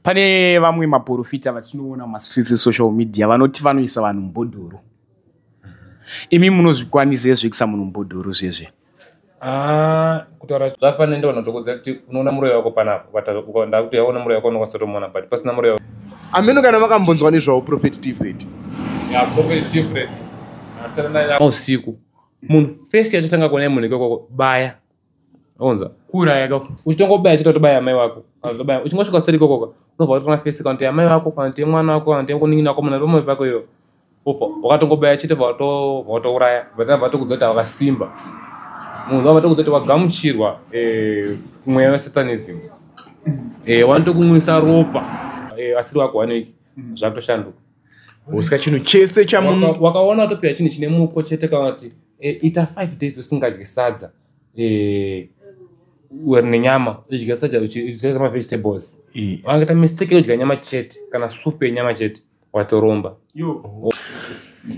pane vamwe maporofita vatinoona mumastreets esocial media vanoti vanoisa vanhu mubhodhoro imi munozvikwanisa ezvo kuisa munhu mubhodhoro zvezve ah, kutaura zvapane ndo vanotokodza kuti unoona muroyi wako panapo ndakuti yaona muroyi wako unokwanisa kutomuona but pasina muroyi wako ameno kana makambonzwa nezvawo profet tifret usiku munhu first yachatanga kuona munhu ikoko baya onza kuuraya ka uchitongobaya chita tobaya amai wako Anotobaya. uchingosvika seri kokoka unobva watona face kana kuti amai wako kana kuti mwana wako kana kuti kuningina wako mwana pamwe pako iyo ufa wakatongobaya chete vato- vatouraya vatanga vatokudza kuti hawakasimba munhu wava vatokudza kuti wagamuchirwa eh, mweya wesatanism Eh, wanotokumwisa ropa Eh, asiri wako waneki zvakutoshanduka usika chinhu chese chamunhu wakaona watopiwa chinhu chine muko chete kana kuti e, ita five days usingadye sadza e, uri nenyama udya sadza uchidya mavegetables wangaita mistake yekudya nyama chete kana supu yenyama chete watoromba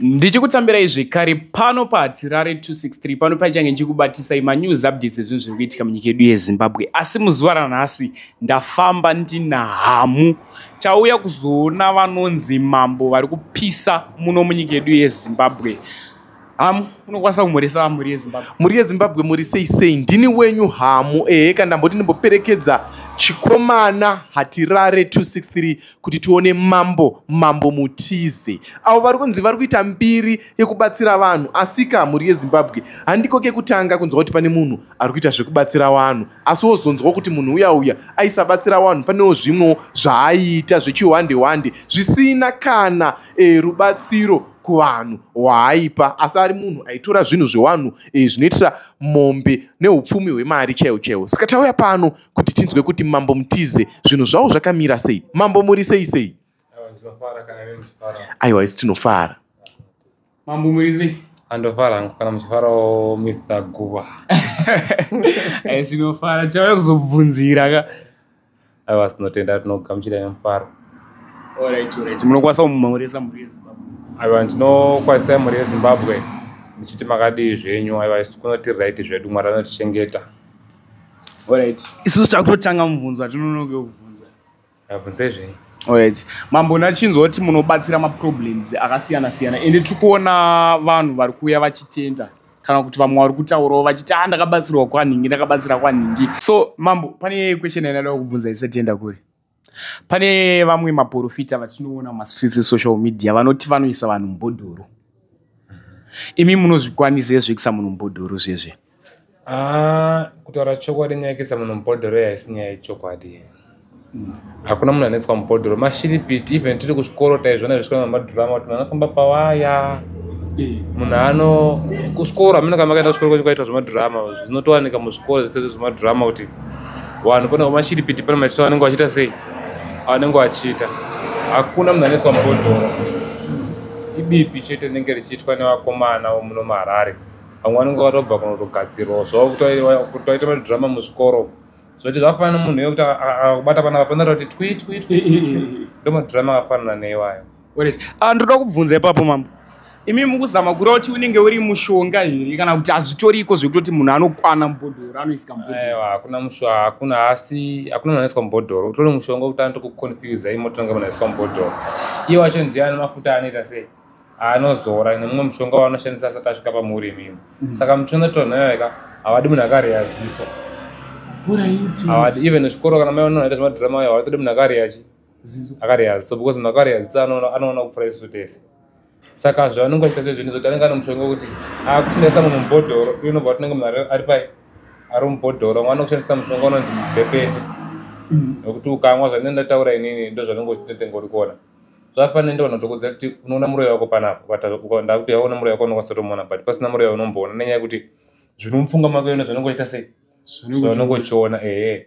ndichikutambirai zvekare pano pahatirare 263 pano paichange ndichikubatisai manews updates ezvinhu zviri kuitika munyika yedu yezimbabwe asi muzuva ranhasi ndafamba ndina hamu tauya kuzoona vanonzi mambo vari kupisa muno munyika yedu yezimbabwe hamu unokwanisa kumhoresa vamhuri yezimbabwe mhuri yezimbabwe muri sei sei ndini wenyu hamu ehe kana ndamboti ndimboperekedza chikomana hatirare 263 kuti tione mambo mambo mutize avo vari kunzi vari kuita mbiri yekubatsira vanhu asika mhuri yezimbabwe handiko kekutanga kunzwa kuti pane munhu ari kuita zvekubatsira vanhu asi wozonzwa kuti munhu uya uya aisabatsira vanhu panewo zvimwewo zvaaiita zvechihwande hwande zvisina kana e, rubatsiro kuvanhu hwaaipa asi ari munhu aitora zvinhu zvewanhu e, zvinoitira mombe neupfumi hwemari chaiwo chaiwo saka tauya pano kuti tinzwe kuti mambo mutize zvinhu zvavo zvakamira sei mambo muri sei sei aiwa isi tinofara Mambo Murizi. Andofara hangu kana muchifarawo Mr. Guwa. Ayi tinofara chave kuzobvunzira ka. Aiwa tinotenda tinogamuchira nemufaro. Alright, alright. Munokwanisa kumureza mhuri yeZimbabwe. Aiwa ndinokwanisa mhuri yeZimbabwe ndichiti makadii zvenyu aiwa isu kunoti right zvedu Mwari anotichengeta. Alright. Isu takutotanga mubvunzo atinonoke kubvunza. Ndabvunzei zvenyu? Alright. Mambo ndachinzwa kuti munobatsira maproblems akasiyana siyana ende tiri kuona vanhu vari kuuya vachitenda kana kuti vamwe vari kutaurawo vachiti a ah, ndakabatsirwa kwanhingi ndakabatsira kwanhingi so mambo pane question yandada kubvunza isetenda kuri pane vamwe maprofita vatinoona mumastreets esocial media vanoti vanoisa vanhu mubhodhoro imi munozvikwanisa ezvekisa munhu mubhodhoro zvezve ah, kutaura chokwadi nyaya yekisa munhu mubhodhoro yaisi nyaya yechokwadi hakuna munhu anoiswa mubhodhoro mashiripiti even tiri kuzvikoro taizvona zvesvikoro mamadhurama kuti munhu anofamba pawaya munhu ano kuzvikoro amina kama kaenda kuzvikoro kwenyu kwaitwa zvemadhurama zvinotowanika muzvikoro zvese zvemadhurama kuti vanhu pona vamashiripiti pano machito vanenge vachiita sei anenge achiita hakuna munhu anoiswa mubhodhoro ibipi chete rinenge richiitwa nevakomana muno muharare vamwe vanenge vatobva kunotogadzirwa zvokutaita madhirama muzvikoro zvoti zvafanana munhu yekuti akubata panapa panoita kuti twi twi twi ndomadhirama akafanana neiwayo Ah, ndoda kubvunza ipapo mambo imi mukuzama kura kuti unenge uri mushonga here kana kuti hazvitoriko zvekutoti munhu anokwana mubhodhoro anoisika mubhodhoro hakuna musha hakuna asi hakuna munhu anoiswa mubhodhoro utori mushonga kuti anoto kuconfusa imi motonga munhu aiswa mubhodhoro iye wacho ndiye ane mafuta anoita sei anozora nemumwe mushonga waanoshandisa asati asvika pamuri imimi mm. saka mushonga tonhoyoeka havadi munhu akareya ziso havadi even chikoro kana maionoita zvemadrama ayo havatodi munhu akareya chii ziso akareya ziso because munhu akareya ziso anoona kupfura isu tese saka zvavanenge vachiita zvezveni zvokuti anenge ane mushonga wekuti akushandisa ah, munhu mubhodhoro uye unobva watinenge munhu ari pai ari mubhodhoro mwana kushandisa mushonga unonzi mudzepete nokuti mm. ukamwa zvanenge ndataura inini ndo zvanenge uchitenga uri kuona zvafanira ndiona tokuudza kuti unoona muroyi wako panapa ndakuti yaona muroyi wako unokwanisa kutomuona but pasina muroyi unomboona nenyaya yekuti zviri mupfunga mako yona zvanenge uchiita sei zvanenge uchiona ehe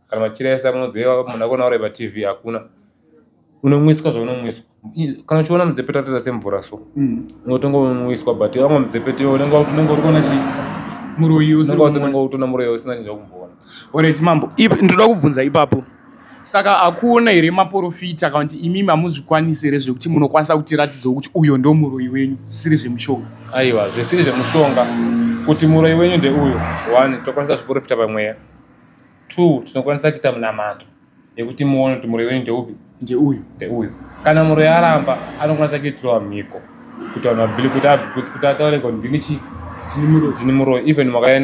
kana machira ese amunodzeva munhu akuona uri patv hakuna unomwiswa zvaunomwiswa kana uchiona mudzepe tatoita semvura so mm. unotonga unomwiswa but vamwe mudzepe tiwo unenge uri kuona chii muroyi unenge utona muroyi usina chinja kumboona orit mambo ndoda kubvunza ipapo saka akuona here maporofita kana kuti imimi hamuzvikwanisi here zvekuti munokwanisa kutiratidzawo kuti uyo ndo muroyi wenyu zvisiri zvemushonga aiwa zvisiri zvemushonga kuti muroyi wenyu ndeuyo one tokwanisa zviporofita pamweya two tinokwanisa kuita munamato yekuti muone kuti muroi wenyu ndeupi ndeuyu ndeuyu kana muroi aramba anokwanisa kuitirwa mhiko kuti vanhu vabili kuti abikudzi kuti ataure kuti ndini chii tini muroi even makauya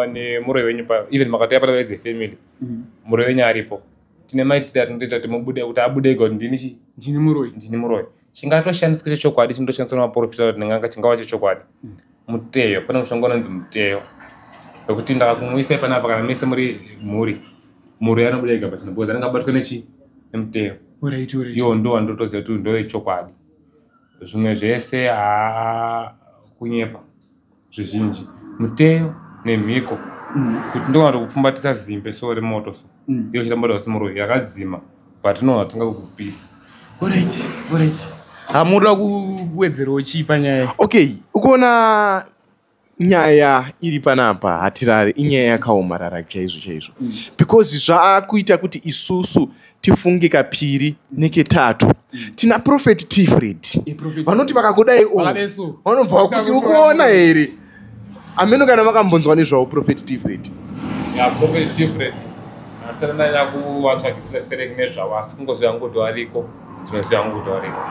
nemuroi wenyu pa even makatouya pano as a family mm. muroi wenyu aripo tine maitira tinotoita kuti mubude kuti abude kuti ndini chii ndini muroi ndini muroi chingatoshandiswa chechokwadi chinotoshandiswa nemaporofita kuti ndinganga chingava chechokwadi hmm. muteyo pane mushonga unonzi muteyo wekuti ndakakumuisai panapa kana mese muri mhuri mhuri yanobuda ega pachino because anenge abatwa nechi nemuteyo iyo ndo wandotoziva kuti ndoyechokwadi zvimwe zvese haa kunyepa zvizhinji muteyo nemhiko mm. kuti ndokwanza kupfumbatisa zimbe so remoto so mm. iyo chiramba kuti vasimuroyi yakadzima but no hatinga kukupisa orit orit hamuda kuwedzerawo chii panyaya okay ukuona nyaya iri panapa hatirari inyaya yakaomarara chaizvo chaizvo mm. because zvaakuita kuti isusu tifunge kapiri neketatu tina profet tifred vanoti vakakudai vanobva vakuti ukuona here ameno kana vakambonzwa nezvavo profet tifred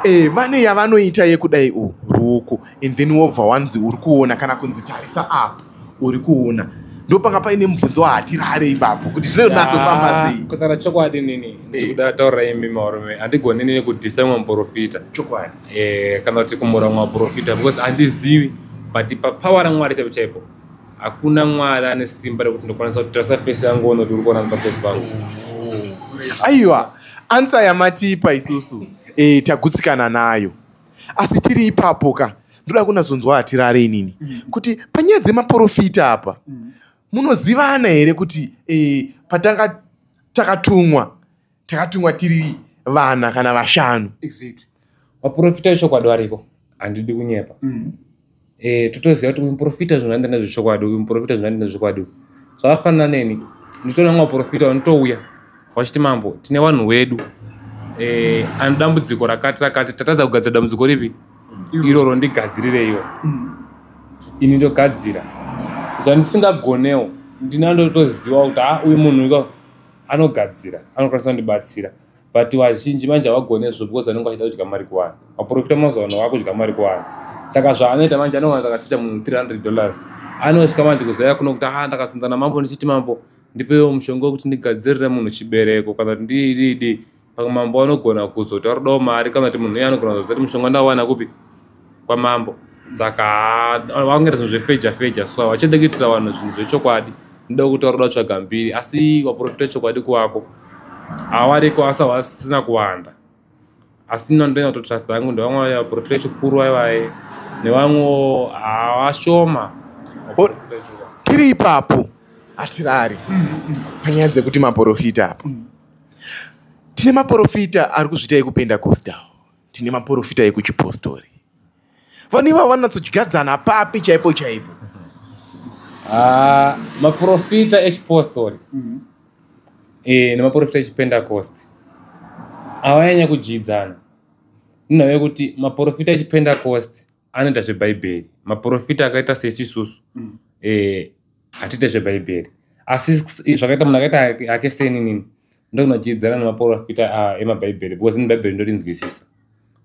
eh, vane yavanoita yekudai u ruku and then wobva wanzi uri kuona kana kunzi tarisa apo uri kuona ndopanga paine mubvunzo wahatirare ipapo kuti zvinonatsombamba sei kutaura chokwadi nini eh. ndikuda taura imi marume handigoni nini kudhisa mumwe muprofita chokwadi eh, kana kuti kumura mumwe muprofita because handizivi but papower ramwari chaipo chaipo hakuna mwari ane simba rekuti ndokwanisa kuti tarisa fesi yangu ono kuti uri kuona mupafesi pangu aiwa ansa yamatipa isusu eh, tagutsikana nayo asi tiri ipapo ka ndoda kunazonzwa hatirare inini mm. kuti panyaya dzemaporofita apa mm. munozivana here kuti eh, patanga takatumwa takatumwa tiri vana kana vashanu vaporofita vechokwadi variko handidi kunyepa mm. eh totoziva kuti uyu muprofita zvinohanda nezvechokwadi uyu muprofita zvinohanda nezvechokwadi zvakafanana neni nditoona mwa muprofita vanotouya vachiti mambo tine vanhu wedu eh ane dambudziko rakati rakati tatadza kugadzira dambudziko ripi iroro ndigadzirireiwo ini ndogadzira zvandisingagonewo ndinandotoziva kuti ha uyu munhu anogadzira anokwanisa kundibatsira but vazhinji manje havagone izvo because vanenge vachida kudya mari kuwana maprofita mazuva ano vakudya mari kuwana saka zvaanoita manje anowana takachicha munhu 300 dollars anosvika manje kuzaya kuno kuti haa ah, ndakasinzana mambo ndichiti mambo ndipewo mushonga wekuti ndigadzirire munhu chibereko kana kuti ndiididi pamwe mambo anogona kuzotauridawo mari kana kuti munhu uye anogona kuzoziva kuti mushonga ndawana kupi kwamambo saka vangere zvinhu zvefeja feja so vachida kuitira vanhu zvinhu zvechokwadi ndoda kuti varoda tsvaga mbiri asi vaprofita chokwadi kuwako awariko asa wasina kuwanda asi ino ndoenda kutotrust yangu ndevamwe vaprofita chikuru vaivaye nevamwewo havashoma tiri ipapo hatirari panyaya dzekuti maprofita apo tine maprofita ari kuzviita ekupenda costawo tine maporofita ekuchipostori vanhu ivavo vanatsotyadzana papi chaipo chaipo ah, maporofita echipostori mm-hmm. eh, nemaporofita echipendakosti avanyanya kudyidzana ndinhave kuti maporofita echipendakosti anoita zvebhaibheri maprofita akaita sesisusu mm. eh, hatiite zvebhaibheri asi zvakaita munhu akaita ake seninini ndokunochiidzana nemaprofita ah, emabhaibheri because ini bhaibheri ndorinzwisisa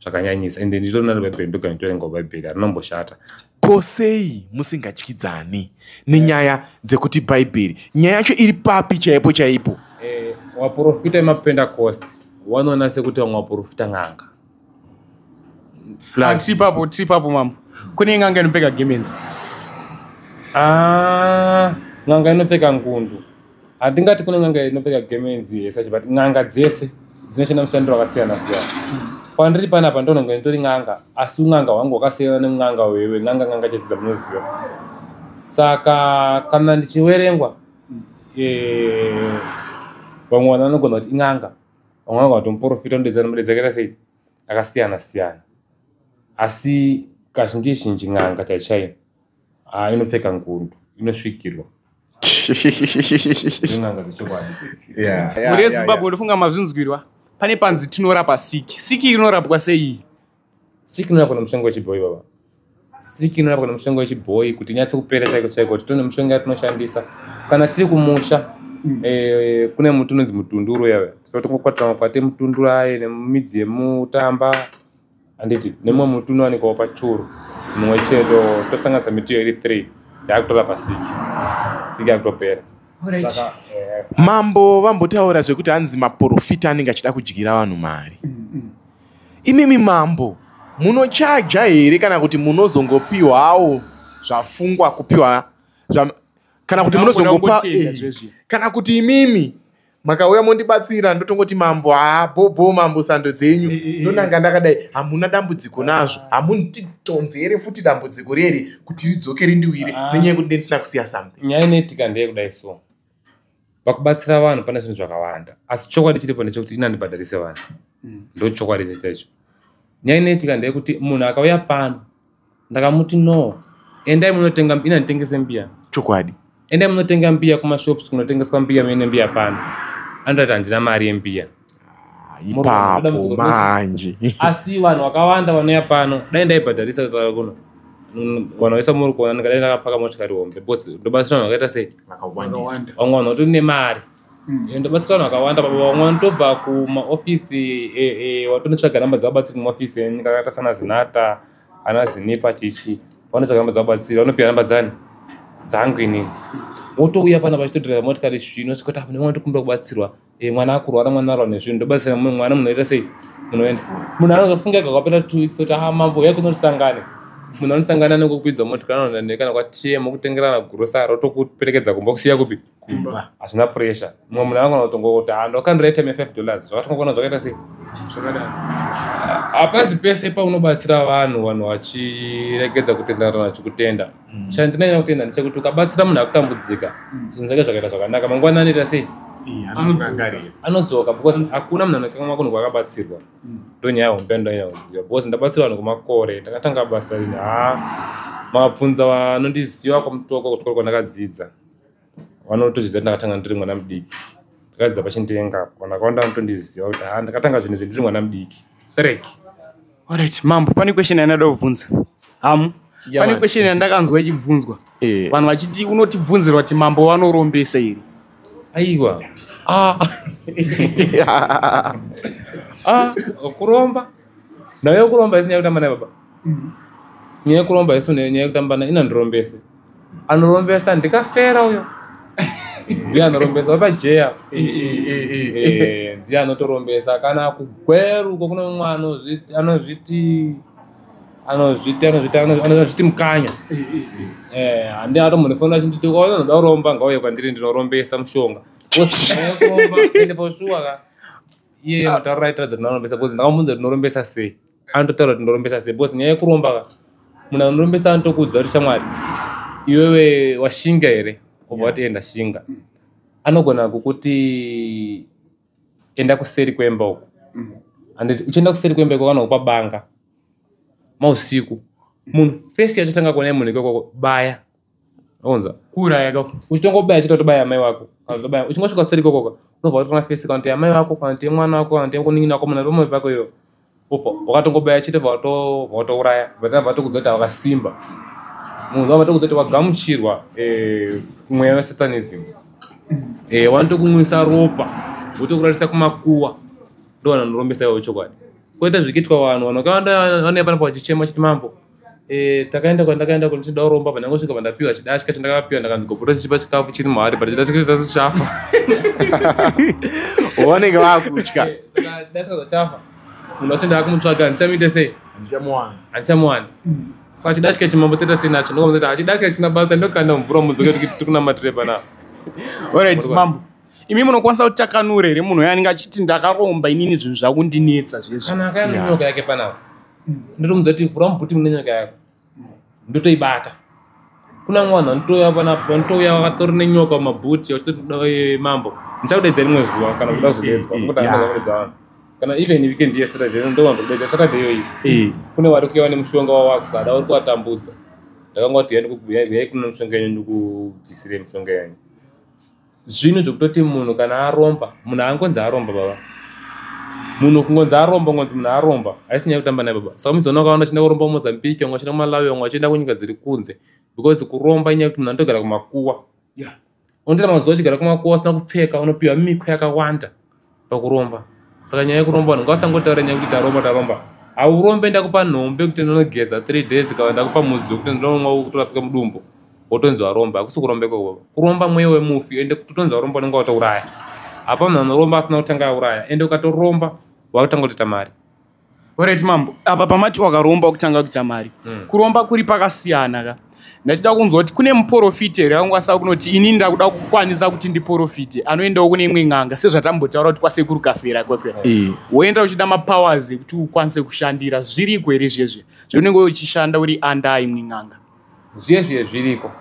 zvakanyanyisa ende nditorina nebhaibheri ndogana nditorenga bhaibheri arinomboshata ko sei musingatyidzani nenyaya dzekuti bhaibheri nyaya yacho iri papi chaipo chaipo eh, waprofita emapentecost wanoona sekuti vamwe waprofita n'anga plus tipapo tipapo mambo kune nganga inopfeka gemenzi ah nganga inopfeka ngundu hatingati kune nganga inopfeka gemenzi yese but nganga dzese dzinoshanda mushandiro wakasiyana siyana pandiri panapa ndononga nditori nganga asi unganga hwangu wakasiyana neunganga wewe nganga nganga chedzi dzamunoziva saka kana ndichiwerengwa eh, vamwe vanhu vanogona kuti inganga vamwe vanga vatomuporofita unodedza nombe dzakaita sei akasiyana siyana asi kazhinji zhinji n'anga chai chaiyo ah, inopfeka ngundu inosvikirwa in'anga dzechokwadi Yeah, yeah, mhuri yeah, yezimbabwe ndofunga mazvinzwirwa pane panzi tinorapa siki siki inorapwa sei Siki nona kuna mushonga wechibhoyi baba. Siki nona kuna mushonga wechibhoyi kuti nyatse kupera chaiko chaiko kuti tone mushonga yatinoshandisa kana tiri kumusha mm. eh, kune muti unonzi mutunduru yave tinotongokwatira makwati emutunduru aye nemidzi yemutamba handiti nemumwe muti unowanikwawo pachuru mumwe chete tosanganisa miti iyo iri three yakutora pasiki siki yakutopera mambo vambotaura zvekuti hanzi maporofita anenge achida kudyira vanhu mari mm, mm. Imimi mambo munochaja here kana kuti munozongopiwawo zvafungwa kupiwa zva, kana kuti munozongopa eh, kana kuti imimi makauya mondibatsira ndotongoti mambo haa bhobho mambo sando dzenyu eh, eh, ndonanga ndakadai hamuna dambudziko nazvo hamundidhonzi here futi dambudziko riri kuti ridzoke rindiwire ah. nenyaya yekuti ndendisina kusiya something nyaya inoitika ndeyekudai so pakubatsira vanhu pane zvinhu zvakawanda asi chokwadi chiripo ndechekuti ini andibhadharise vanhu mm. ndo chokwadi icho chaicho nyaya inoitika ndeyekuti munhu akauya pano ndakamuti no endai munotenga ini anditengese mbiya chokwadi endai munotenga mbiya kumashops kunotengeswa mbiya mene mbiya pano anotaita handina mari yembiya ipapo manje asi vanhu vakawanda vanouya pano dai ndaibhadharisa kutaura kuno vanhu vaisa muri kuona ndikadai ndakapaka motikari hombe bcause ndobatsira vanhu vakaita sei vamwe vanhu vatori nemari hmm. eh, ndobatsira vanhu vakawanda baba vamwe vanotobva kumaofisi eh, eh, watonotsvaga namba dzevabatsiri kumaofisi enyika akaita sana zinata ana zinipa chichi vanotsvaga namba dzevabatsiri vanopiwa namba dzani dzangu inini wotouya pana vachitodhireva motikari zvino svikoti apa nemwana tokumbira kubatsirwa Eh, mwana akurwara mwana arwa nezvinhu ndobatsira mu- mwana munoita sei munoenda munhu anozofunga kakapera two weeks oti ha mambo uya kunotisangane munhu anosangana nekukwidza motikari anoenda naye kana kwatm okutengerana gurosari otokuperekedza kumba kusiya kupi kumba hazvina pressure mumwe munhu anogona kutongo kuti ha ndokandira time yefive dollars zvakatongokona zvakaita sei zvakadaro hapasi pese paunobatsira vanhu vanhu vachiregedza kutenderana vachikutenda Mm. chandinonyanya kutenda ndechekuti ukabatsira munhu akutambudzika Mm. zvinhu zvake zvakaita zvakanaka mangwana anoita sei Iya, anorangarira. anodzoka because hakuna munhu anokanganwa kunhu kwakabatsirwa Mm. ndonyaya hombe ndonyanya kuziva because ndabatsirwa vanhu kwemakore ndakatanga basa rini haa mabvunza vanondiziva kwamutoko kuchikoro kwandakadzidza vanotozviziva kuti ndakatanga ndiri mwana mudiki ndakadzidza pachindenga apo vanhu vakawanda vanotondiziva kuti ha ndakatanga zvinhu izvi ndiri mwana mudiki strek orit mambo pane question yandada kubvunza hamu pane question yandakanzwa ichibvunzwa eh. vanhu vachiti unotibvunzirwa kuti mambo vanorombesa here aiwa ah. ah, kuromba ndave kuromba isinyaya kutamba naye baba mm. nyaya yekuromba isinyaya kutamba naye inandirombese anorombesa ndikafera uyo ndiye anorombesa vapajeya eh, eh, eh, ndiye anotorombesa kana kugweruko kune mumwe anozviti anozviti anozviti anozviti anozviti mukanya handi ato munhu fona achinditi ona ndoda kuromba ngauye kwandiri ndinorombesa mushonga ende poshuwa ka iye mataura aitaridza kuti ndinorombesa bcause ndakamunza kuti ndinorombesa sei anototaura kuti ndorombesa sei because nyaya yekuromba ka munhu anorombesa anotokuudza kuti shamwari iwewe washinga here obva wati enda shinga anogona kukuti enda kuseri kwemba uko mm. anditi uchienda kuseri kwemba ikoko anokupa banga mausiku munhu fesi yachatanga kuona munhu ikoko baya onza kuuraya ka uchitongobaya chita tobaya amai wako azobaya uchingosvika kuseri kokoka unobva watona face kana kuti amai wako kana kuti mwana wako kana kuti kuningina wako mwana romwe pako iyo ufa wakatongobaya chita vato vatouraya vatana vatokudza kuti wakasimba munhu wava tokudza kuti wagamuchirwa eh, mweya wesatanism eh, wanotokumwisa ropa votokurarisa kumakuwa ndo vanhu vanorombesa ivo chokwadi koita zvikiitwa vanhu vanhu vakawanda vanouya panapa vachichema chiti mambo Eh, takaenda kwandakaenda kuti ndida kuromba apa ndangosvika pandapiwa chidashika chandakapiwa ndakanzi goboro chichipa chikafu chiri muhari but chidashika chitatu chafa vanenge vakutya eh, chidashika zvachafa munhu wacho ndaakumutsvaga ndichamuite sei handichamuwani mm. saka chidashika chimambo toita sei nacho ndokamuzati hachidashika chisina basa ndokanda mvura muzoke kuti tiri kunamatire pana orit mambo imi munokwanisa kuti takanure here munhu uyo anenge achiti ndakaromba inini zvinhu zvakundinetsa zvezvo kana akayanonyoka yake panapa ndotomudza kuti vhura mubhuti mune nyanga yako ndotoibata kuna mwana nditouya panapo nditouya vakatori nenyoka mumabhuti vachitoti mambo ndichakudaidza rimwe zuva kana kuda kuzodedzwa nokuti Yeah. anaa kudedza vanhu kana even weekend ye saturday no ndowanza kudedza saturday iyoyi Eh, kune vari kuya vane mushonga wavakusada vari kuvatambudza ndakangoti yani kuyai kuno mushonga yenyu ndikubvisire mushonga yenyu zvinhu zvekutoti munhu kana aromba munhu aangonzi aromba baba munhu kungonzi aromba kungonzi munhu aromba haisi nyaya kutamba naye baba saka muzoona ukaona achienda kuromba kumozambique vamwe vachienda kumalawi vamwe vachienda kunyika dziri kunze because kuromba inyaya kuti munhu anotogara kumakuwa unotoita mazuva achigara kumakuwa usina kupfeka unopiwa miko yakawanda pakuromba saka nyaya yekuromba vanhu ngavasangotaura nyaya yekuti taromba taromba haurombe ndakupa nhombe kuti ndinogeza three days kana ndakupa mudzi wekuti ndinonomwa wokutorapika mudumbu wotonzi waromba hakusi kuromba ikoko kuromba mweya wemufi ende kuti utonzi waromba unenge watouraya hapa munhu anoromba asina kutanga auraya ende ukatoromba wakutanga kutoita mari Alright mambo, apa pamati wakaromba kutanga kuita mari. Mm. Kuromba kuri pakasiyana ka. Ndachida kunzwa kuti kune muporofiti here akangwasa kunoti ini ndakuda kukwanisa kuti ndiporofite anoendawo kune imwe n'anga sezvatambotaura kuti kwasekuru kafera kwekwe eh. woenda uchida mapowers ekuti ukwanise kushandira zviriko here zvezve zveunenge uchishanda uri anda imwe n'anga zvezve zviriko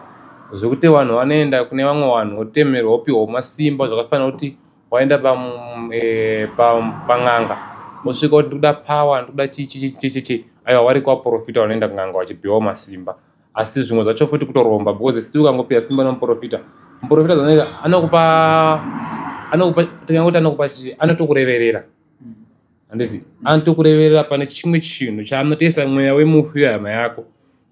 zvekuti vanhu vanoenda kune vamwe vanhu votemerwa wopiwa masimba zvakafanira kuti waenda pan'anga wosvika kuti ndikuda power ndikuda chichichichichi aiwa wari kwaprofita wanoenda kun'anga wachipiwa masimba asi zvimwe zvacho futi kutoromba because still ukangopiwa simba nomuprofita muprofita zanoita anokupa anokupa tingangokuti anokupa chii anotokureverera handiti anotokureverera pane chimwe chinhu chaanotesa mweya wemufi wehama yako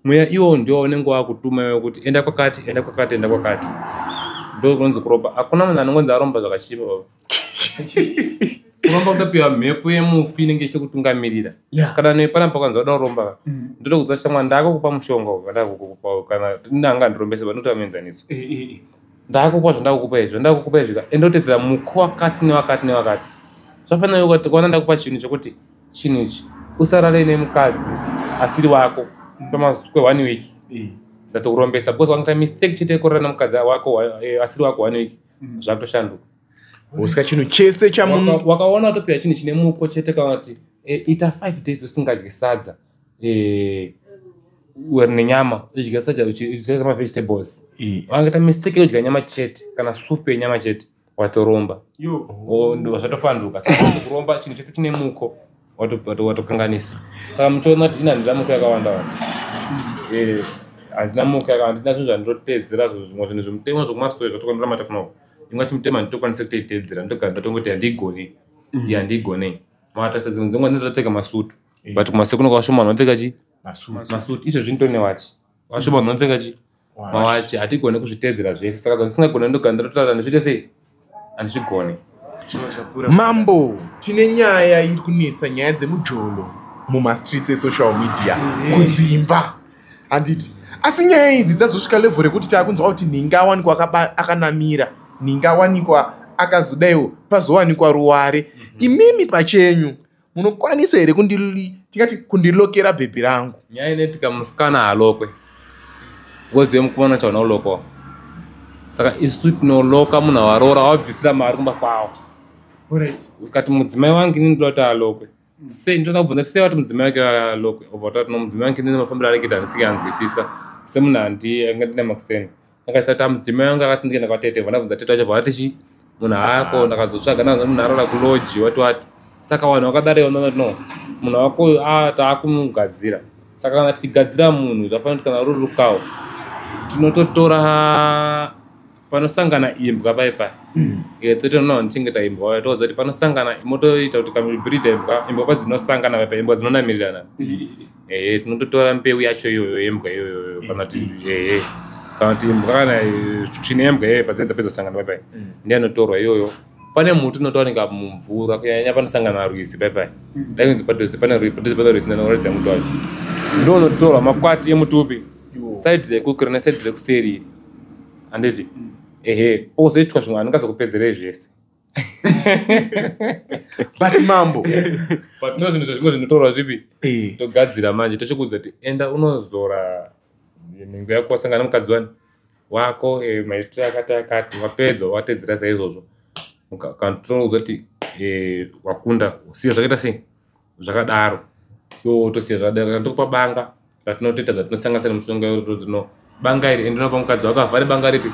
mweya iwo ndiwo unenge wakutuma iwe kuti enda kwakati enda kwakati enda kwakati ndo kunonzi kuropa hakuna munhu anongonzi aromba zvakachipa baba kuromba kutopiwa mhepo yemufi inenge ichitokutungamirira yeah. kana nepana pakanzi vada kuromba mm. ndotokudza shamwa ndakukupa mushonga kana ndanga ndirombese vanotoa muenzaniso eh, eh, eh. ndakukupa zvandakukupa izvi zvandakukupa izvi ka endotedzera muko wakati newakati newakati zvafanira kuti kwana ndakupa chinhu chekuti chinhu ichi usarare nemukadzi asiri wako pamasukwe one week ndatokurombesa because wakaita mistake chete yekurara nemukadzi wako eh, asiri wako one week mm. zvakutoshanduka usika chinhu chese chamunhu wakaona watopiwa chinhu chine muko chete kana kuti eh, ita five days usingadye sadza eh, uri nenyama udya sadza uchiisa mavegetables wangaita mistake yekudya nyama chete kana supu yenyama chete watoromba zvatofanduka kuromba chinhu chese chine muko watokanganisa saka muchiona kuti inandira muko yakawanda wanda eh, handina muko yakawanda ndina zvinhu zvandinoteedzera zvimwe zvinhu zvemutemo zvekumasoe zvatokanira matafuna imwe yacho mutemo handitokwanisa kutoiteedzera ndogara ndatongoti handigoni mm. handigonei matarisa dzimwe dzimwe ndinotopfeka masutu eh. but kumasekuno kwashoma vanopfeka chi masutu izvo zvinotonewachi vashoma vanopfeka chi mawachi hatigone kuzviteedzera zvese saka kana tisingagone ndogana ndotaura ndizviite sei handizvigone mambo tine nyaya iri kunetsa nyaya dzemujolo mumastreets esocial media mm-hmm. kudzimba handiti asi nyaya idzi dzazosvika level rekuti taakunzwa kuti ninga awanikwa akanamira ninga awanikwa akazodaiwo pazowanikwa ruware mm-hmm. imimi pachenyu munokwanisa here tingati kundilokera bhebhi rangu nyaya inetika musikana halokwe wozive mukomana chaona ulokowa saka isu tinoloka munhu awaroora wabvisira mari kumba kwawo ukati mudzimai wangu ini ndoda kuti alokwe sei ndoda kubvunza sei wati mudzimai wake alokwe obva tati no mudzimai wangu ini nemafambiro anenge tanisike anzwisisa semunhu handi ange ndine makuseni akatata mudzimai wangu akati ndikaenda kwatete vandabvunza tete wacho vati chi munhu haako ndakazotsvaga ndaza munhu arara kuloji wati wati saka wanhu wakadare unoona no munhu wako uyu a taakumugadzira saka kana tichigadzira munhu zvafanira kuti kana ruri rukawo tinototora panosangana imbwa pai pai mm. totoona tichinge taimbwa vaya toudza kuti panosangana motoita kuti kamibirida imbwa imbwa padzinosangana pai pai imbwa dzinonamirirana ehe tinototora mbeu yacho iyoyo yembwa iyoyo kana kuti ehe kana kuti imbwa kana eh, tsvina yembwa iyoyo padzai dzapedza sangana baibai Mm. ndiye anotorwa iyoyo pane muti unotowanika mumvura kunyanya panosangana rwizi baibai dai kunzi padhuze pane rwizi padhuze pane rwizi ndanoratidza muti wacho ndo unotorwa makwati emuti upi Yo. saidi rekukura nesaidi rekuseri iri handiti ehe pozoitwa zvimwe anongazokupedzerei zvese but mambo but no zvinhu zvazvingo zvinotorwa zvipi eh. togadzira manje tochikuudza kuti enda unozora nhengo yako wasangana mukadzi wani wako eh, maitiro akati akati wapedza watedzera saizvozvo ukanotouza kuti eh, wakunda usiya zvakaita sei zvakadaro yo tosiya zvadera randikupa banga ratinotoita zvatinosanganisa nemushonga yorozvino banga iri ende unopa mukadzi wako avhare banga ripi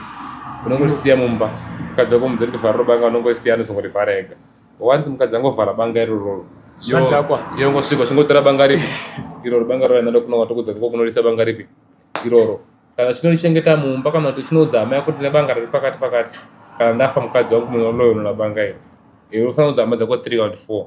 unongorisiya mumba mukadzi wako muzori ndivhara robanga unongorisiya anozongorivhara ega wanzi mukadzi angovhara banga irororo Shandakwa. yongosvika chingotora banga ripi iroro banga roro rinada kunonga tokudza kako kunorisa banga ripi iroro kana chinorichengeta mumba kana kuti chinoudza hama yako kuti tine banga riri pakati pakati kana ndafa mukadzi wangu munonoyonora banga iri iri unofanira kuudza hama dzako three kana kuti four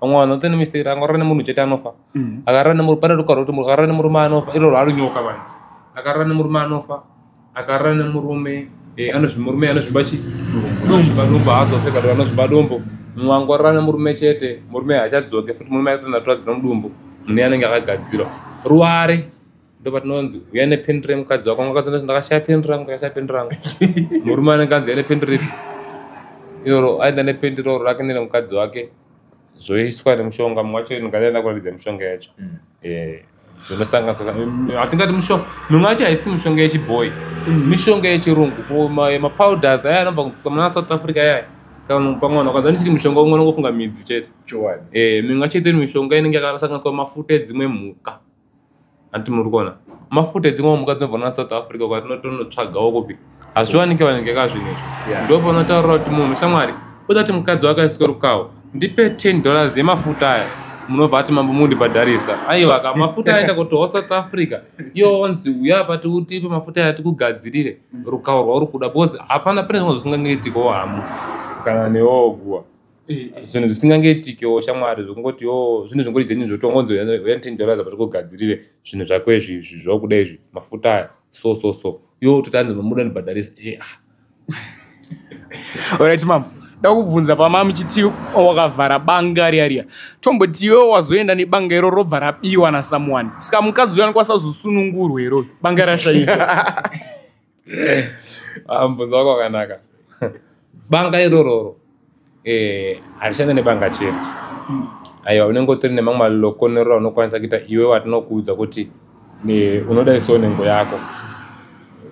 vamwe vanhu vanotoenda mistake akarara nemunhu chete anofa mm. akarara nemurume pane ruka rwekuti akarara nemurume anofa iro rwarinyoka vanhu akarara nemurume anofa akarara nemurume eh, anozvimurume anozvimba chi anozvimba dombo haazofe kana anozvimba dombo mumwe angorara nemurume chete murume haachadzoke futi murume aitonatura dzinomudumbu mune anenge akagadzirwa ruware ndopatinonzi uya nependi remukadzi wako ngakadzi ndakashaya pendi rangu ndakashaya pendi rangu murume anenge anzi ane pendi ripi iroro aenda nependi roro rake nene mukadzi wake zvoiswa nemushonga mumwe wacho ndingaenda kuratidza mishonga yacho mm. eh, zvinosanganiswa hatingati mushonga mimwe yacho haisi mishonga yechibhoyi mm. mishonga yechirungu mapowders aya anobva kudzisa muna south africa yaya pamwana kwanza ndichiti mushonga umwe unongofunga midzi chete eh, mimwe yacho itoini mishonga inenge yakasanganiswa mafuta edzimwe mhuka hanti muri kuona mafuta edzimwe mhuka dzinovhona nasouth africa kwatinotonotsvagawo kupi hazviwanike vanenge ka zvinhu izvo ndo panotaurira kuti munhu shamwari kuda kuti mukadzi wakaiswa rukawo ndipe 10 dollars yemafuta aya munobva ati mambo mundibhadharisa aiwa ka mafuta aenda kutohwa south africa iyo onzi uya pati utipe mafuta aya tikugadzirire rukawo rwauri kuda because hapana pane zvimwe zvisingangeitikawo hamu kana newoguwa zvinhu zvisingangeitikewo shamwari zvokungoti yo zvinhu zvingori dzeni zvotongonzi uya ten dollars apa tikugadzirire zvinhu zvako izvi izvi zvokuda izvi mafuta aya so so so yo totanzi mamuda ndibhadharisa eh, ah. orit mam ndakubvunza pama muchiti wakavhara banga riya riya tomboti iwewo wazoenda nebanga iro robva rabiwa nasomeone saka mukadzi uyo anikwasazosunungurwa iroyo banga rashaika Ah, mubvunzo wako wakanaka banga irororo eh, harishande nebanga chete aiwa unenge utori nemamwe malokonerora unokwanisa kuita iwe watinokuudza kuti unoda iso nhengo yako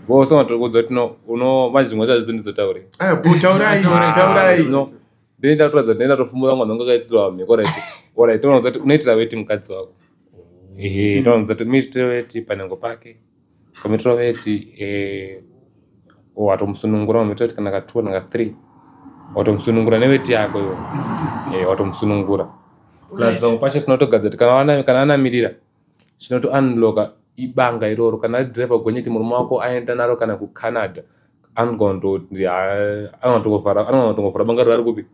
vose matokudza kuti manje zvimwe zazvidzo ndizotaure ah, ndinoita kutoratidza ndinoita tofumura mwana wangu akaitirwa mhiko rit orit unoudza kuti unoitira weti mukadzi wako oh. ehe unoudza kuti muitire weti panhengo pake Kamitiro veti eh, watomusunungura mamitiro veti kana ka two kana ka three watomusunungura neveti yako iwo eh, watomusunungura plus pamwe pacho tinotogadzira kana kana anamirira zvinoto unlocka ibanga iroro kana ari driver gonyeti murume wako aenda naro kana kucanada anotongofara banga rari kupi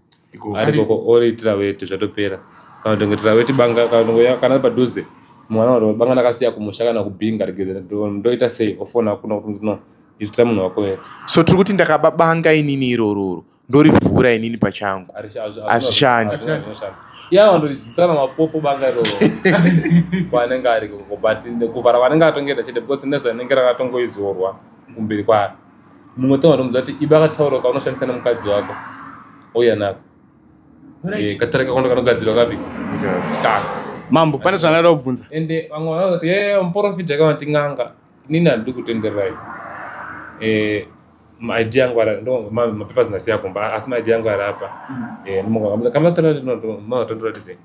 arikoko oritira weti zvatopera kana kutongetira weti banga kana ari padhuze mwana waro banga ndakasiya kumusha kana kubhinga regeze ndoita sei ofona kuna kuti no itira munhu wako weti so tiri kuti ndakababanga inini irororo ndorivhura inini pachangu hazvishandi ya wandoidyisana mapopo banga iroro kwaanenge ari koko but kuvhara kwanenge atongeta chete because ne zvanenge rakatongoizorwa kumberi kwaari mumwe tanga ndomuza kuti iba akataura kaunoshandisa nemukadzi wako ouya nako eh, katare kakondo kanogadzirwa kapi kaka mambo pane zvandada kubvunza ende vamwe vanazoti ye muporofita kavati n'anga nini handidi kutendererai eh, maidi yangu mapepa zinasiya kumba asi maidi yangu ari apa kamaatoratidze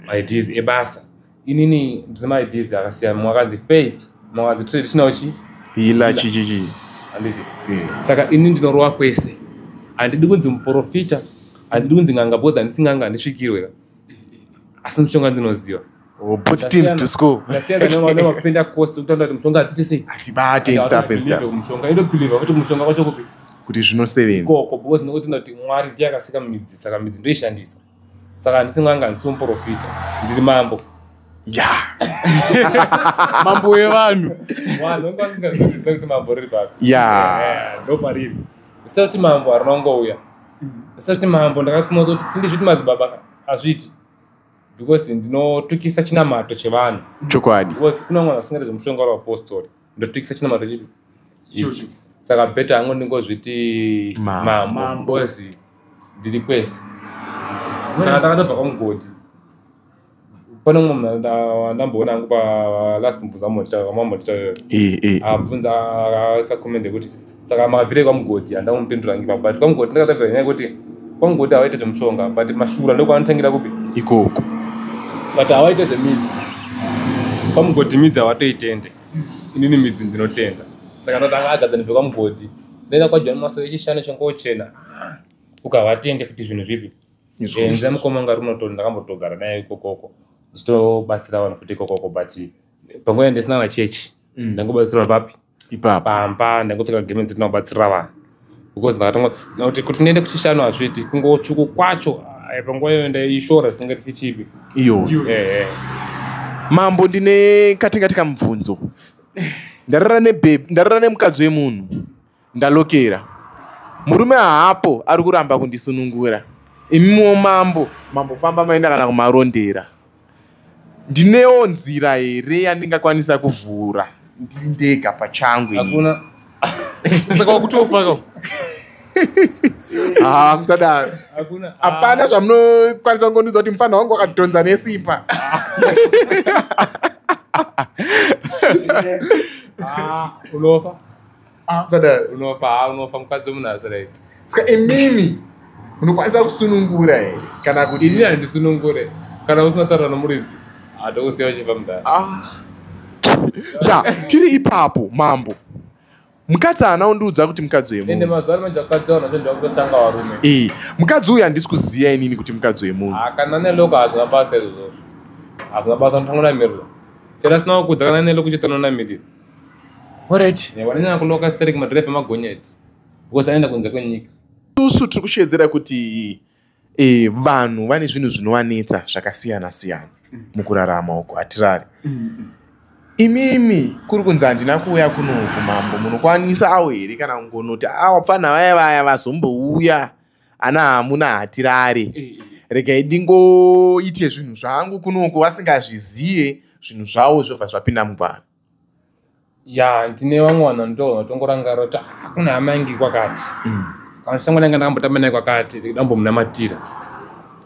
maids ebasa inini ndine maids akasiyana mumwe akanzi faith mumwe akanzi traditional chi ila chichichi handiti saka ini ndinorowa kwese handidi kunzi muprofita handidi kunzi nganga bhoza handisi nganga handisvikirwe asi mushonga ndinoziva or both teams to score ndasiyanaaakupenda cost kutaura kuti mushonga hadziti sei hatibate and stuff and stuff mushonga inobhilivha kuti mushonga kwacho kupi kuti zvinosevenza koko because nekuti tinoda kuti mwari ndiye akasika midzi saka midzi ndoishandisa saka handisi mwanga handisi muprofita ndiri mambo ya mambo wevanhu vanhu vanga vasingaziviziva kuti mambo riri papi ya ndo pariri zita kuti mambo harina kungouya zita kuti mambo ndakatumwa kuti sindizviti madzibaba hazviiti because ndinotukisa chinamato chevanhu chokwadi because kuna mwana asingaite zvemushonga uri apostori ndotukisa chinamato chipi Ichi. saka beta yangu ndingozviti Ma- mambo Mambo. because ndiri kwese saka takatobva kwamugodhi pane umwe munhu nda- ndamboona angu pa last mubvunza mambo ndita- mambo ndita- Eh, eh. abvunza aisa comment yekuti saka makabvirei kwamugodhi handina kumupindura hangi baba but kwamugodhi ndakatavira nyaya yekuti kwamugodhi havaite zvemushonga but mashura ndokwanotangira kupi ikoko but havaite zvemidzi kwamugodhi midzi havatoitende inini midzi ndinotenda saka ndatanga agadza ndibve kwamugodhi ndaenda kwajoni maso echishana chongochena ukavatende futi zvinhu zvipi zvenza mukoma ngarunoto ndakambotogara naye ikokoko ndichitobatsira vanhu futi ikokoko but panguva yandisina na chechi mm. ndangobatsirwa papi ipapa pamba ndangopfeka gemenzi ndinobatsira vanhu because ndakatanga kuti kuti ndiende kuchishanu hazviiti kungotsvuku kwacho eh, panguva iyoyo ndaishora zvisingati chichipi iyo eh, eh. mambo ndine katingatika mubvunzo ndarara nebebe ndarara nemukadzi wemunhu Ndalokera. Murume haapo ari kuramba kundisunungura. Imiwo mambo, mambo famba maenda kana kumarondera. Ndinewo nzira here yandingakwanisa kuvhura ndiri ndega pachangu. Hakuna. Saka wakutofaka. Ah, msadaro. Hakuna. Hapana zvamunokwanisa kungondiudza kuti mfana wangu wakadhonza nesimba. Ah, unofa. Ah, sadar unofa ha unofa mukadzi wemunhu asi right ska imimi munokwanisa kusunungura here kana kuti ini handisunungure kana usina taura nomuridzi hatokusiya uchifa mudhara Ah. ya tiri ipapo mambo mukadzi haana kundiudza kuti mukadzi ende wemunhu mazuva ano manje mukadzi wanhu vacho ndakutotanga varume Eh, mukadzi uyu handisi kuziva inini kuti mukadzi wemunhu Ah, kana neloko hazvina basa izvozvo hazvina basa unotongonamirira chero asina kukudza kana neloko chete unonamirira Alright. Eh, wananyanya kuloka sterek madrive magonyeti because anoenda kunze kwenyika isusu tiri kusheedzera kuti e, vanhu vane zvinhu zvinovanetsa zvakasiyana siyana mukurarama uko hatirari imimi kuri kunzi handina kuuya kuno kumambo munokwanisa awo here kana kungonoti awapfana vaya vaya vazombouya ana hamuna hatirare eh, eh. regai ndingoite zvinhu zvangu kunoku vasingazvizive zvinhu zvavo zvobva zvapinda mugwara ya ndine vamwe vanhu vandoona vatongorangarira kuti ah, kune hama yangi kwakati mm. kana chitango ndanga ndakambotamba naye kwakati ndambomunamatira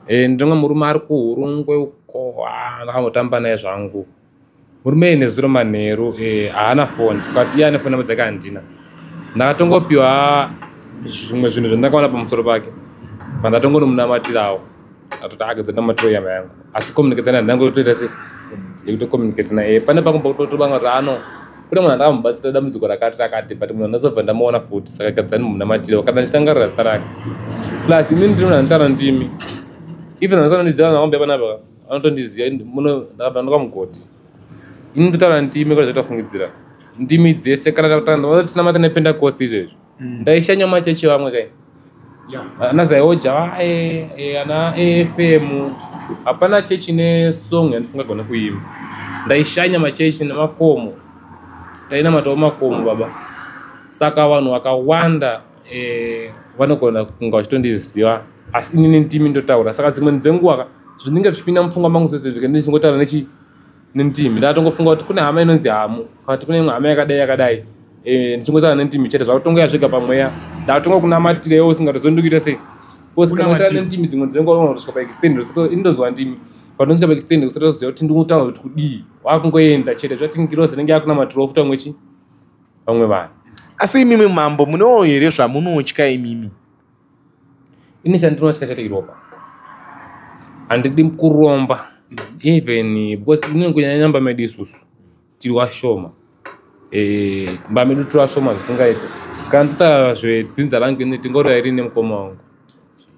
eh, ndinonga murume ari kuhurungwe uko ah, ndakambotamba naye zvangu murume iyi nezuro manheru eh, haana foni but iye ane foni namba dzake handina ndakatongopiwa zvimwe zvinhu zvandakaona pamusoro pake pandatongonomunamatirawo atoti akedza namatiro yama yangu asi communicate naye ndangotoita se ndikutocomunicate naye eh, pane pangu pakutotobanga kuti ano kune munhu andakamubatsira dambudziko rakati rakati but munhu andazobva ndamuona futi saka gadzani munamatire wakadza ndichitangarira zita rake plus imini ndiri munhu anotara ndimi even andisanondiziva naombe panapa anotondiziva muno ndakabva ndoka mugodhi ini ndotaura ndimi kona zvatofungidzira ndimi dzese kana tinotinamata nepentecost izvezvi mm. ndaishanya machechi vamwe kai ana zaioja vae e, ana afm hapana chechi nesong yandisingagone kuimba ndaishanya machechi nemakomo tainamatawo makomo baba saka vanhu vakawanda eh, vanogona kunga vachitondiziva asi inini ndimi ndotaura saka dzimweni dzenguva ka zvinenge zvichipinda mupfungwa mangu zvese zvike ndichingotaura nechi nentimi ndatogofunga kuti kune hama inonzi hamu kana kuti kune imwe hama yakadai yakadai eh, ndichingotaura nentimi chete zvakutongoya zvega pamweya ndatonga kunamatira iwo usingatozondikuita sei kosikanamatira nentimi dzimwe dzenguva unotoska paextend inonzwa ndimi panonzwa paextend kusatoziva kuti ndikutaura kuti kudii wakungoenda chete zvatingirozi inenge yakunamatirawo futa mwechi vamwe vanhu asi imimi mambo munewo here zvamunotya imimi ini chandinotya chete iropa handidi kuromba even because inini kunyanya nyamba medu isusu tiri washoma eh, mba medu tiri washoma zvisingaite kana nditaura zvedzinza rangu ini tingoreva iri nemukoma wangu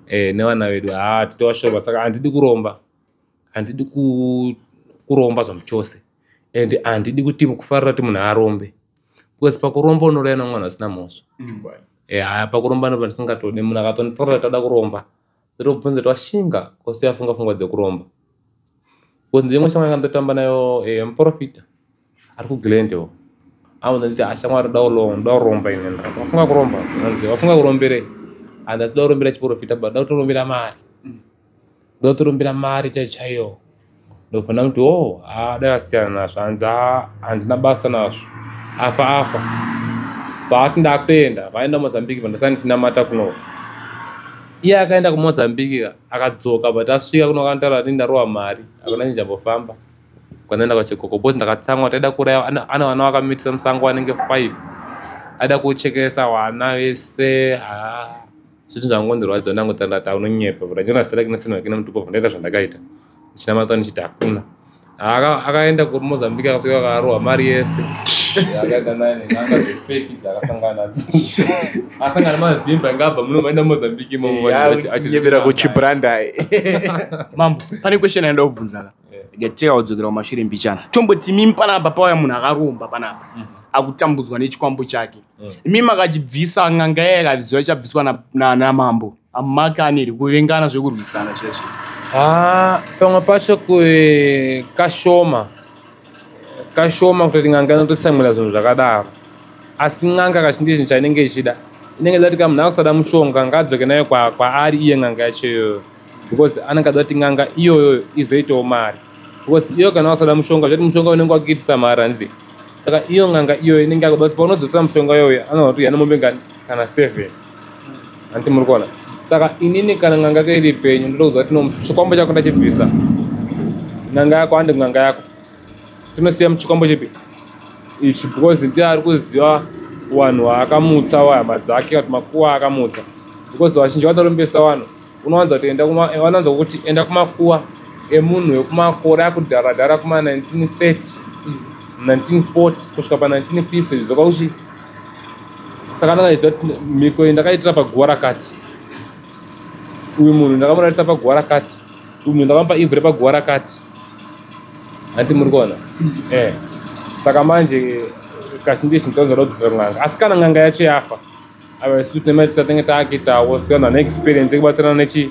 eh, nevana vedu haa tiri washoma saka handidi kuromba handidi kuromba zvamuchose and handidi kuti kufarira kuti munhu arombe because pakuromba unorayana mwana asina mhosva mm. eh, haya pakuromba ndopa ndisingatode munhu akatonditorera toda kuromba ndotobvunza kuti washinga kose afunga fungwa dzekuromba because ndimwe shamwari kandotamba nayo eh, muprofita ari kuglendewo aona nditi ashamwari ah, ndoda kuromba ine wafunga kuromba anzi wafunga kuromberei and asida kurombera chiprofita but da kutorombera mari ndotorumbira mari chaiyo chaiyo ndobvona kuti o oh, ha dai asiyana nazvo hanzi ha handina basa nazvo afa afa vaati ndakutoenda vaenda mozambique vandasani ndichinamata kuno iye akaenda kumozambique ka akadzoka but asvika kuno akantaura ati ndarowa mari akuna chinjambofamba kwandaenda kwachekoko bcause ndakatsamwa taida kuraya ana vana vakamitisa musango vanenge five aida kuchekesa wana vese haa ah. zviti zvangondirwadza ndangotandata unonyepa but anyona sitela kina sina kina mtupo vandaita zvandakaita china mata nichita hakuna aka akaenda ku Mozambique akasvika akarowa mari yese akaenda naye nenanga dzepeki dzakasangana asangana mazimba ngabva muno maenda Mozambique imomo achibira kuchibranda mambo pane question yandaobvunza gateka kudzokera kumashure mbichana tomboti mimi panapa pauya munhu akaromba panapa mm. akutambudzwa nechikwambo chake mm. mimi akachibvisa nganga yaye akaviziva chabviswa namambo amumake aneri kuvengana zvekurwisana chezve ah, pamwe pacho kashoma kashoma kutoti nganga inototsamwira zvinhu zvakadaro asi nganga kachindi chinhu chainenge ichida inenge dati kamunhu akusada mushonga ngaadzoke nayo kwaari iye nganga yacho iyoyo because anenge ada kuti n'anga iyoyo izoitawo mari because iyo kana wasada mushonga zvati mushonga unenge wakuitisa mari hanzi saka iyo n'anga iyoyo inenge akuda kuti paunodzosera mushonga iyoyo anoona kuti yana mombe ngani kana seven hanti muri kuona saka inini kana n'anga yake iri penyu ndoda kuziva kuti no chikwambo chako ndachibvisa n'anga yako handi n'anga yako tinosiya muchikwambo chipi ichi because ndiye ari kuziva wanhu waakamutsa wahama dzake kuti makuwa akamutsa because vazhinji vatarombesa vanhu unowanza kuti enda kuma eh, wanowanza kuti enda kumakuwa emunhu wekumakore akudhara dhara kuma 1930 1940 kusvika pa 1950 zvizoka kuti saka ndakaiziva kuti mhiko iyi ndakaitira paguva rakati uyu munhu ndakamurarisa paguva rakati uyu munhu ndakamupa ivhu repaguva rakati hanti muri kuona eh saka manje kazhinji izvi ndikazoda kudzosera kun'anga asi kana n'anga yacho yafa ava isu tine maita tinenge taakitawo siyana neexperience yekubatsirana nechi